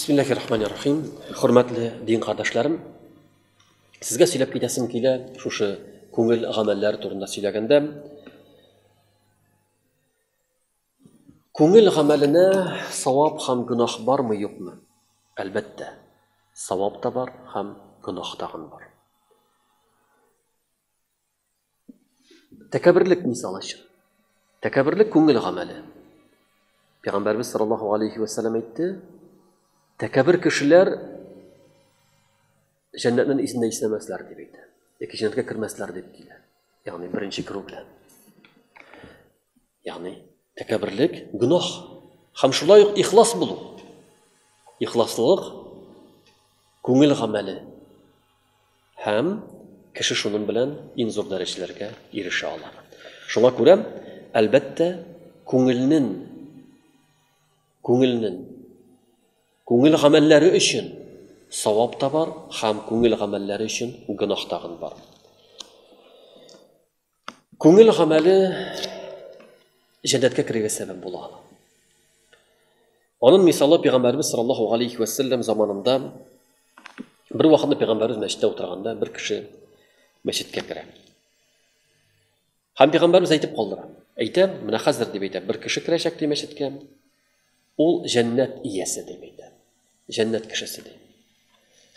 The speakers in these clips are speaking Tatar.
Бисмиллахи рахмани рахим. Хөрмәтле дин кардәшләрем, сезгә сөйләп китәсем килә шушы күңел гамәлләре турында сөйләгәндә. Күңел гамәленә савап һәм гөнаһ бармы-юкмы? Әлбәттә, савап та бар һәм гөнаһ тагын бар. Тәкәбберлек мисал өчен. Тәкәбберлек күңел гамәле. Пәйгамбәрбез саллаллаһу алейхи ва саллям әйтте, тәкәббер кешеләр җәннәтнең исендә исәмәсләр дип әйтә. Яки җәннәткә кермәсләр дип килә. Ягъни беренче керү белән. Ягъни тәкәбберлек гөнаһ һәм шулай ук ихлас булу. Ихласлылык күңел гамәле һәм кеше шуның белән иң зур дәрәҗәләргә ирешә ала. Шуңа күрә, әлбәттә, күңелнең күңелнең күңел гамәлләре өчен савап та бар һәм күңел гамәлләре өчен гөнаһ тагын бар. Күңел гамәле җәннәткә керергә сәбәп була. Аның мисалы пәйгамбәрбез саллаллаһу алейхи ва саллям заманында бер вакытны пәйгамбәрбез мәчеттә утырганда бер кеше мәчеткә керә. Һәм пәйгамбәрбез әйтеп калдыра. Әйтә, менә хәзер дип әйтә, бер кеше керәчәк ди мәчеткә. Ул җәннәт иясе, дип әйтә. Җәннәт кешесе, ди.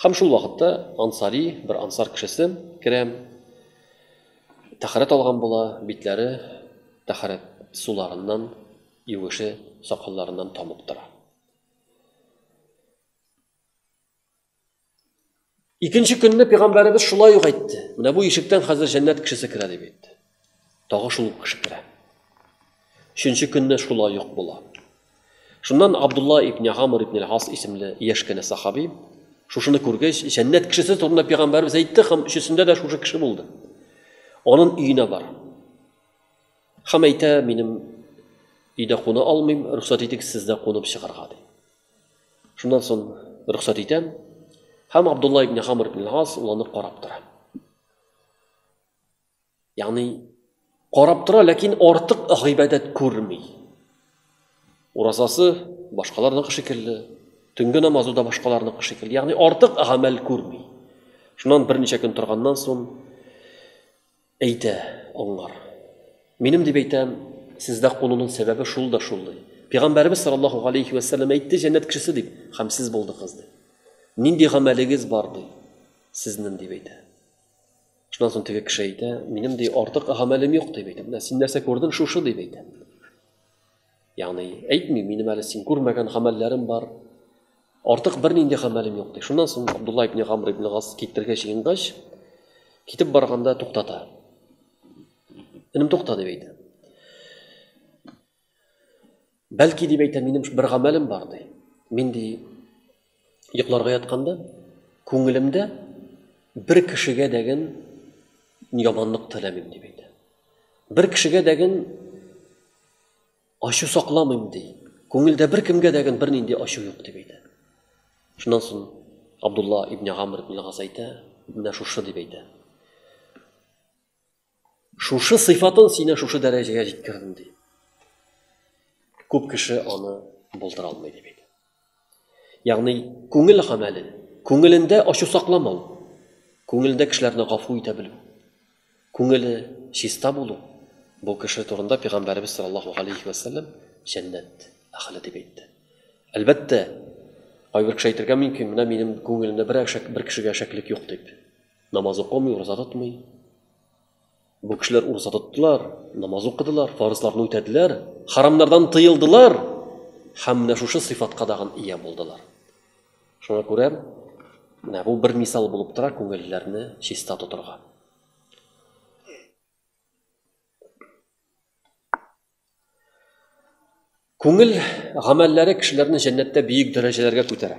Һәм шул вакытта ансари, бер ансар кешесе керә, тәхәрәт алган була, битләре тәхәрәт суларыннан, юеше сакалларыннан тамып тора. Икенче көнне пәйгамбәребез шулай ук әйтте. Менә бу ишектән хәзер җәннәт кешесе керә дип әйтте. Тагы шул кеше керә. Өченче көнне шулай ук була. Шуннан Абдулла ибн Гамр ибн Хас исемле яшь кенә сахаби шушыны күргәч, җәннәт кешесе турында пәйгамбәребез әйтте һәм өчесендә дә шушы кеше булды. Анын өенә бар. Хәм әйтә, минем өйдә куна алмыйм, рөхсәт итегез сездә кунып чыгарга ди. Шуннан соң рөхсәт итәм. Һәм Абдулла ибн Хамр ибн Гас ул аны карап тора. Ягъни карап тора, ләкин артык гыйбадәт күрми. Уразасы башкаларның шикелле, төнге намазы да башкаларның шикелле. Ягъни артык гамәл күрми. Шуннан берничә көн торганнан соң Әйтә, аңлар. Минем дип әйтәм, сездә кунуның сәбәбе шул да шул, ди. Пигамбәребез саллаллаһу галәйһи вә сәлләм әйтте, җәннәт кешесе дип, хәм сез булдыгыз, ди. Нинди гамәлегез бар, ди, сезнең дип әйтә. Шуннан соң теге кеше әйтә, минем ди артык гамәлем юк, дип әйтә. Менә син нәрсә күрдең, шушы, дип әйтә. Ягъни, әйтми, минем әле син күрмәгән гамәлләрем бар, артык бернинди гамәлем юк, ди. Шуннан соң Абдулла ибн Гамр ибн Гас китергә җыенгач, китеп барганда туктата. Энем тукта дип әйтә. Бәлки дип әйтә, минем бер гамәлем бар ди. Мин ди Йокларга ятканда, күңелемдә бер кешегә дәген яманлык теләмим, дип әйтә. Бер кешегә дәген ачу сакламыйм, ди. Күңелдә бер кемгә дәген бер нинди ачу юк, дип әйтә. Шуннан соң Абдулла ибн Гамр ибн Газ әйтә, менә шушы дип әйтә. Шушы сыйфатын сине шушы дәрәҗәгә җиткердем ди. Күп кеше аны булдыра алмый дип әйтә. Ягъни күңел гамәле, күңелендә ачу сакламау, күңелендә кешеләрне гафу итә белү, күңеле чиста булу бу кеше турында пәйгамбәребез саллаллаху алейхи вәсәлләм җәннәт әхле дип әйтте. Әлбәттә, кайбер кеше әйтергә мөмкин, менә минем күңелемдә бер бер кешегә шәклек юк дип. Намаз укымый, ураза тотмый. Бу кешеләр ураза тоттылар, намаз укыдылар, фарызларны үтәделәр, харамнардан тыелдылар һәм менә шушы сыйфатка дагын ия булдылар. Шуңа күрә менә бу бер мисал булып тора күңелләрне чиста тотырга. Күңел гамәлләре кешеләрне җәннәттә биек дәрәҗәләргә күтәрә.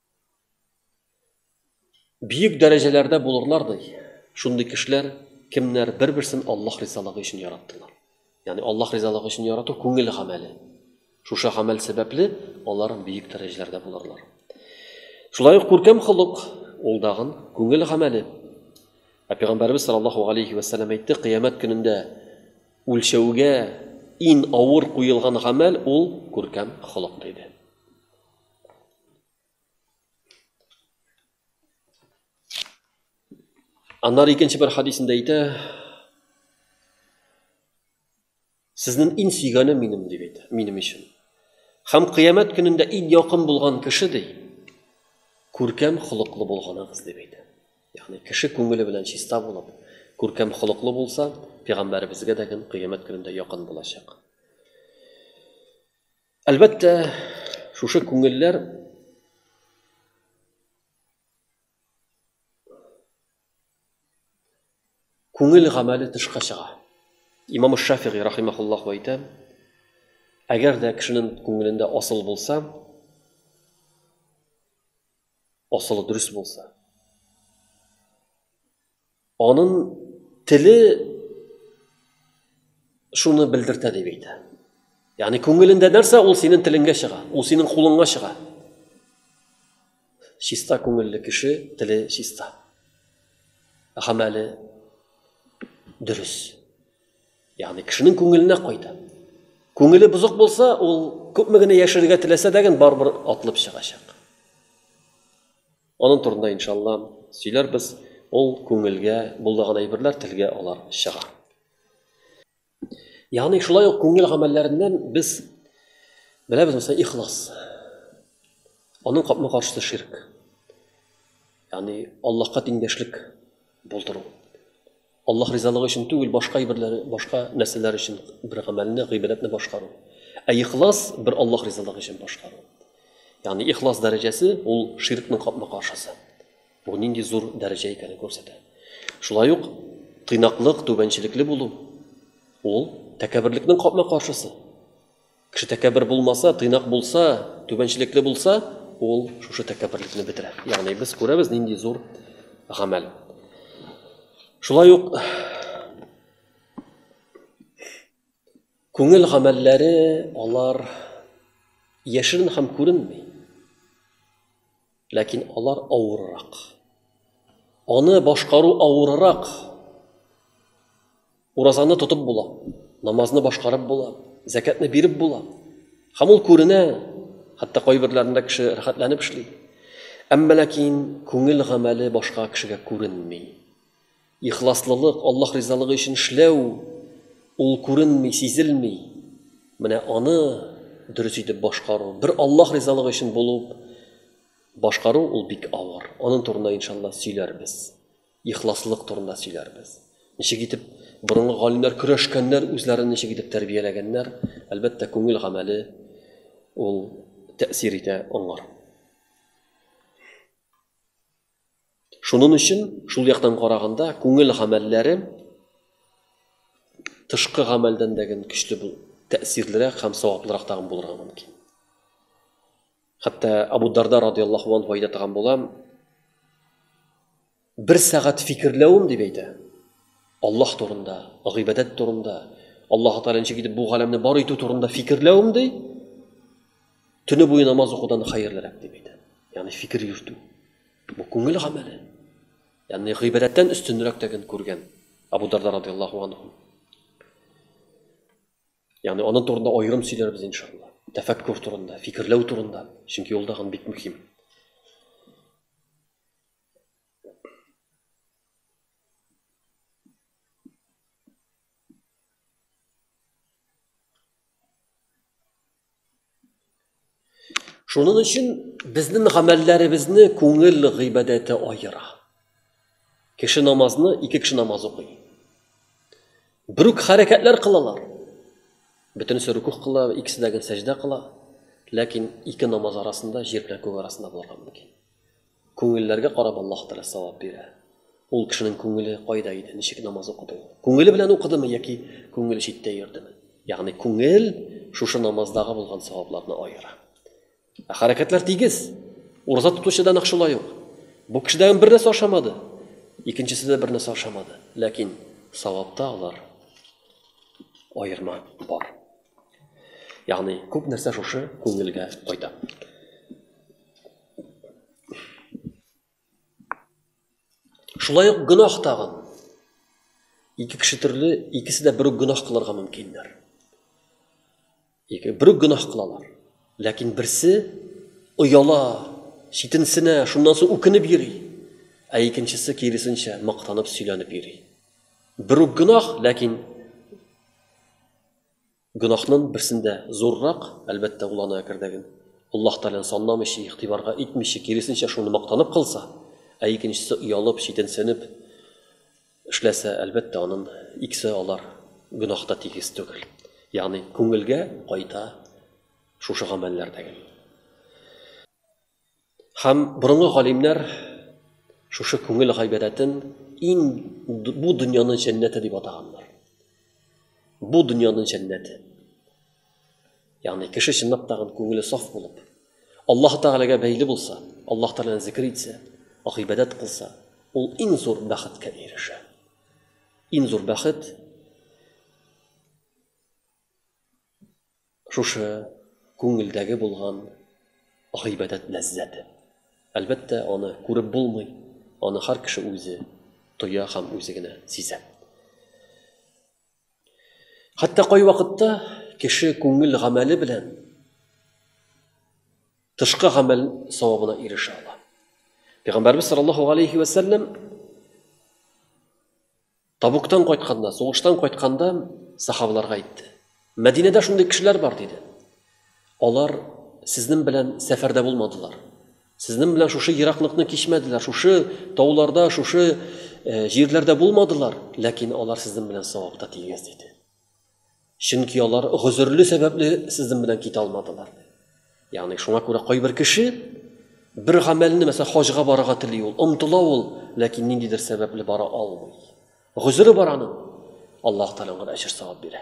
Биек дәрәҗәләрдә булырлар ди. Шундый кешеләр кемнәр бер-берсен Аллаһ ризалыгы өчен яраттылар. Ягъни Аллаһ ризалыгы өчен ярату күңел гамәле. Шушы гамәл сәбәпле алар биек дәрәҗәләрдә булырлар. Шулай ук күркәм холык, ул дагын күңел гамәле. Ә пәйгамбәрбез саллаллаһу алейхи ва саллям әйтте, кыямәт көнендә үлчәүгә ин авыр куелган гамәл ул күркәм холык диде. Аннары икенче бер хадисендә әйтә, Сезнең иң сөйгәне минем дип әйтә, минем өчен. Хәм кыямәт көнендә иң якын булган кеше ди, күркәм холыклы булганыгыз дип әйтә. Ягъни кеше күңеле белән чиста булып, күркәм холыклы булса, пәйгамбәребезгә дә кыямәт көнендә якын булачак. Әлбәттә, шушы күңелләр күңел гамәле тышка чыга. Имам Шафигый рахимахуллаһ әйтә, әгәр дә кешенең күңелендә асыл булса, асылы дөрес булса, Анын теле шуны белдертә дип әйтә. Ягъни күңелендә нәрсә, ул синең телеңгә чыга, ул синең кулыңга чыга. Чиста күңелле кеше теле чиста. Гамәле дөрес. Ягъни кешенең күңеленә кайта. Күңеле бозык булса, ул күпме генә яшәргә теләсә дә, барыбер атлып чыгачак. Аның турында иншалла сөйләрбез, ул күңелгә булдаган әйберләр телгә алар чыга. Ягъни шулай ук күңел гамәлләреннән без беләбез мәсәлән ихлас. Аның капма каршысы ширк. Ягъни Аллаһка тиңдәшлек булдыру. Аллаһ ризалыгы өчен түгел, башка әйберләр, башка нәрсәләр өчен бер гамәлне, гыйбадәтне башкару. Ә ихлас бер Аллаһ ризалыгы өчен башкару. Ягъни ихлас дәрәҗәсе ул ширкның капма-каршысы. Бу нинди зур дәрәҗә икәнен күрсәтә. Шулай ук тыйнаклык, түбәнчелекле булу ул тәкәберлекнең капма-каршысы. Кеше тәкәббер булмаса, тыйнак булса, түбәнчелекле булса, ул шушы тәкәбберлекне бетерә. Ягъни без күрәбез нинди зур гамәл. Шулай ук күңел гамәлләре алар яшерен һәм күренми. Ләкин алар авыррак. Аны башкару авыррак. Уразаны тотып була, намазны башкарып була, зәкәтне биреп була. Һәм ул күренә, хәтта кайберләрендә кеше рәхәтләнеп эшли. Әмма ләкин күңел гамәле башка кешегә күренми. Ихласлылык, Аллаһ ризалыгы өчен эшләү, ул күренми, сизелми. Менә аны дөрес итеп башкару, бер Аллаһ ризалыгы өчен булып башкару, ул бик авыр. Аның турында, иншалла, сөйләрбез. Ихласлылык турында сөйләрбез. Ничек итеп борынгы галимнәр көрәшкәннәр, үзләрен ничек итеп тәрбияләгәннәр, әлбәттә, күңел гамәле ул тәэсир итә аңар. Шунын өчен, шул яктан караганда, күңел гамәлләре тышкы гамәлдән дә гэн көчле бул, тәэсирлерәк һәм саваплырак тагын булырга мөмкин. Хәтта Абу Дарда радияллаһу анһу әйтә торган була, бер сәгать фикерләвем дип әйтә, Аллаһ турында, гыйбадәт турында, Аллаһы Тәгалә ничек итеп бу галәмне бар итү турында фикерләвем ди, Төне буе намаз укудан хәерлерәк дип әйтә. Ягъни фикер йөртү. Бу күңел гамәле. Ягъни гыйбадәттән өстенрәк тәген күргән Абу Дарда радиллаһу анху. Ягъни аның турында аерым сөйләрбез иншалла. Тәфәккүр турында, фикерләү турында, чөнки ул тагын бик мөһим. Шуның өчен безнең гамәлләребезне күңел гыйбадәте аера. Кеше намазны ике кеше намаз укый. Бер үк хәрәкәтләр кылалар. Бөтенесе рукух кыла, икесе дә сәҗдә кыла. Ләкин ике намаз арасында җир белән күк арасында булырга мөмкин. Күңелләргә карап Аллаһ Тәгалә савап бирә. Ул кешенең күңеле кайда иде, ничек намаз укыды ул? Күңеле белән укыдымы яки күңеле читтә йөрдеме? Ягъни күңел шушы намаздагы булган савапларны аера. Ә хәрәкәтләр тигез. Ураза тотучы да нәкъ шулай ук. Бу кешедән бер нәрсә ашамады, икенчесе дә бер нәрсә ашамады, ләкин савапта алар аерма бар. Ягъни күп нәрсә шушы күңелгә кайта. Шулай ук гөнаһ тагын. Ике кеше төрле, икесе дә бер үк гөнаһ кылырга мөмкиннәр. Ике бер үк гөнаһ кылалар. Ләкин берсе ояла, читенсенә, шуннан соң үкенеп йөри. Ә икенчесе киресенчә мактанып сөйләнеп йөри. Бер үк гөнаһ, ләкин Гөнаһнын берсен дә зуррак, әлбәттә, ул аны әкердәген Аллаһ Тәгаләне санламыйча, игътибарга итмичә, киресенчә, шуны мактанып кылса, ә икенчесе оялып, читенсенеп эшләсә, әлбәттә, анын икесе алар гөнаһ та тигез түгел. Ягъни, күңелгә кайта шушы гамәлләр дәген. Һәм борынгы галимнәр шушы күңел гайбәдәтен ин бу дөньяның җәннәте дип атаганнар. Бу дөньяның җәннәте. Ягъни кеше чынлап та күңеле саф булып, Аллаһ Тәгаләгә бәйле булса, Аллаһ Тәгаләне зикр итсә, гыйбадәт кылса, ул иң зур бәхеткә ирешә. Иң зур бәхет Шушы күңелдәге булган гыйбадәт ләззәте. Әлбәттә, аны күреп булмый, аны һәр кеше үзе тоя һәм үзе генә сизә. Хәтта кайвакытта кеше күңел гамәле белән тышкы гамәл савабына ирешә ала. Пәйгамбәрбез саллаллаһу алейхи вә сәлләм Табуктан кайтканда, сугыштан кайтканда сахабаларга әйтте. Мәдинәдә шундый кешеләр бар, диде. Алар сезнең белән сәфәрдә булмадылар. Сезнең белән шушы ераклыкны кичмәделәр, шушы тауларда, шушы э, җирләрдә булмадылар, ләкин алар сезнең белән савапта тигез, диде. Чөнки алар гозерле сәбәпле сезнең белән китә алмадылар. Ягъни шуңа күрә кайбер кеше бер гамәлне, мәсәлән, хаҗга барырга тели ул, омтыла ул, ләкин ниндидер сәбәпле бара алмый. Гозере бар аның. Аллаһ Тәгалә аңа әҗр савап бирә.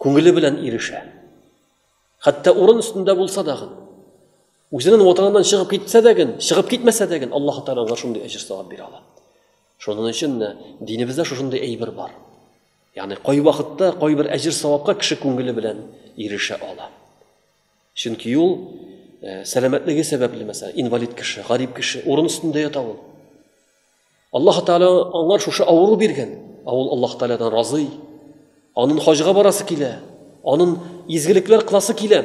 Күңеле белән ирешә. Хәтта урын өстендә булса да, үзенең ватаныннан чыгып китсә дә, чыгып китмәсә дә, Аллаһ Тәгалә аңа шундый әҗр савап бирә ала. Шуның өчен дә динебездә шушындый әйбер бар. Ягъни кайвакытта кайбер әҗер-савапка кеше күңеле белән ирешә ала. Чөнки ул э, сәламәтлеге сәбәпле, мәсәлән, инвалид кеше, гарип кеше, урын өстендә ята ул. Аллаһ Тәгалә аңар шушы авыру биргән. Ә ул Аллаһ Тәгаләдән разый. Анын хаҗга барасы килә, анын изгелекләр кыласы килә.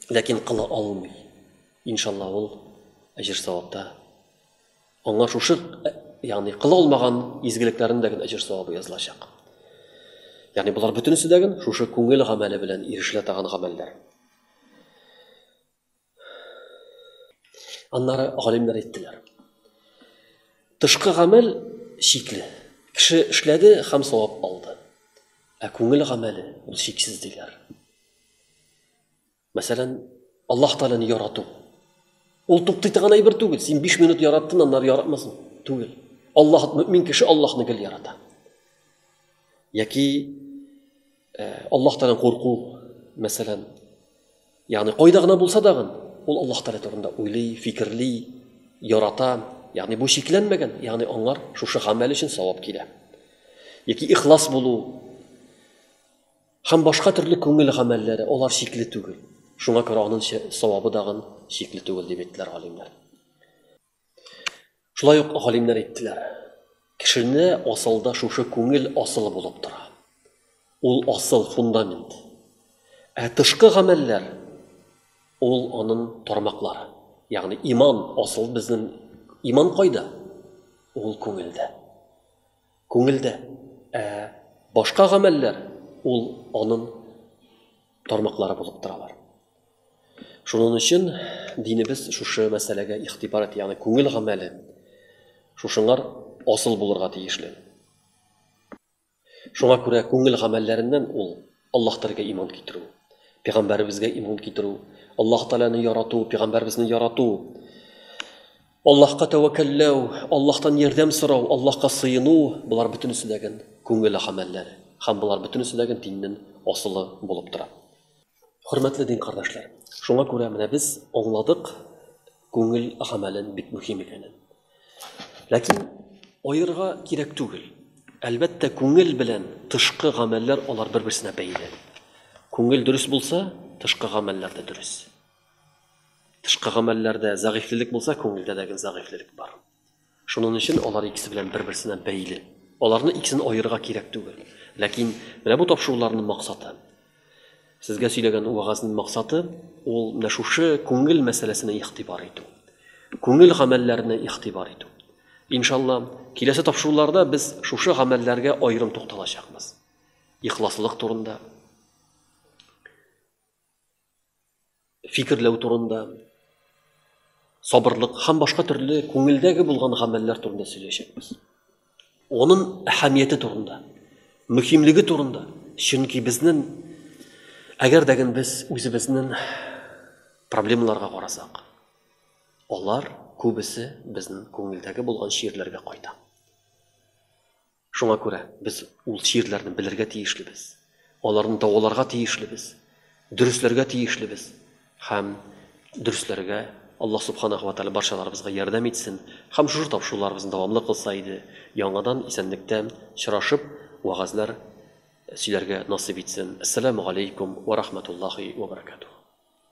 Ләкин кыла алмый. Иншалла ул әҗер савапта Аңа шушы, ягъни кыла алмаган изгелекләрендә генә әҗер савабы язылачак. Ягъни болар бөтенесе дә генә шушы күңел гамәле белән ирешелә торган гамәлләр. Аннары галимнәр әйттеләр. Тышкы гамәл чикле. Кеше эшләде һәм савап алды. Ә күңел гамәле ул чиксез диләр. Мәсәлән, Аллаһ Тәгаләне ярату. Ул туктый торган әйбер түгел. Син 5 минут яраттың, аннары яратмасын. Түгел. Аллаһ мөмин кеше Аллаһны гел ярата. Яки э, Аллаһ Тәгалән курку, мәсәлән. Ягъни кайда гына булса да, ул Аллаһ Тәгалә турында уйлый, фикерли, ярата. Ягъни бу чикләнмәгән, ягъни аңар шушы гамәл өчен савап килә. Яки ихлас булу, Һәм башка төрле күңел гамәлләре, алар чикле түгел. Шуңа күрә аның савабы дагын чикле түгел дип әйттеләр галимнәр. Шулай ук галимнәр әйттеләр, кешене асылда шушы күңел асылы булып тора. Ул асыл фундамент. Ә тышкы гамәлләр ул аның тармаклары. Ягъни иман асыл безнең иман кайда? Ул күңелдә. Күңелдә. Ә башка гамәлләр, ул анын тармаклары булып торалар. Шунын өчен динебез шушы мәсьәләгә игътибар итә, ягъни күңел гамәле шушыңар асыл булырга тиешле. Шуңа күрә күңел гамәлләреннән ул Аллаһ Тәгаләгә иман китерү, Пәйгамбәребезгә иман китерү, Аллаһ Тәгаләне ярату, Пәйгамбәребезне ярату, Аллаһка тәвәккәлләү, Аллаһтан ярдәм сорау, Аллаһка сыену, болар бөтенесе дә гел күңел гамәлләре. Һәм болар бөтенесе дә гел диннең асылы булып тора. Хөрмәтле дин кардәшләр, шуңа күрә менә без аңладык күңел гамәлен бик мөһим икәнен. Ләкин аерырга кирәк түгел. Әлбәттә, күңел белән тышкы гамәлләр алар бер-берсенә бәйле. Күңел дөрес булса, тышкы гамәлләр дә дөрес. Тышкы гамәлләрдә зәгыйфьлелек булса, күңелдә дә зәгыйфьлелек бар. Шуның өчен алар икесе белән бер-берсенә бәйле. Аларны икесен аерырга кирәк түгел. Ләкин менә бу тапшыруларның максаты Сезгә сөйләгән вәгазьнең максаты ул менә шушы күңел мәсьәләсенә игътибар итү. Күңел гамәлләренә игътибар итү. Иншалла, киләсе тапшыруларда без шушы гамәлләргә аерым тукталачакбыз. Ихласлык турында, фикерләү турында, сабырлык һәм башка төрле күңелдәге булган гамәлләр турында сөйләячәкбез. Оның әһәмияте турында, мөһимлеге турында. Чөнки безнең әгәр дә без үзебезнең проблемаларга карасак, алар күбесе безнең күңелдәге булган чирләргә кайта. Шуңа күрә без ул чирләрне белергә тиешлебез, аларны даваларга тиешлебез, дөресләргә тиешлебез һәм дөресләргә Аллаһ Субханаһу ва Тәгалә барчаларыбызга ярдәм итсен һәм шушы тапшыруларыбызны дәвамлы кылса иде, яңадан исәнлектә чырашып вәгазьләр сөйләргә насыйп итсен. Әссәламү галәйкүм вә рахмәтуллаһи вә бәрәкәтүһ.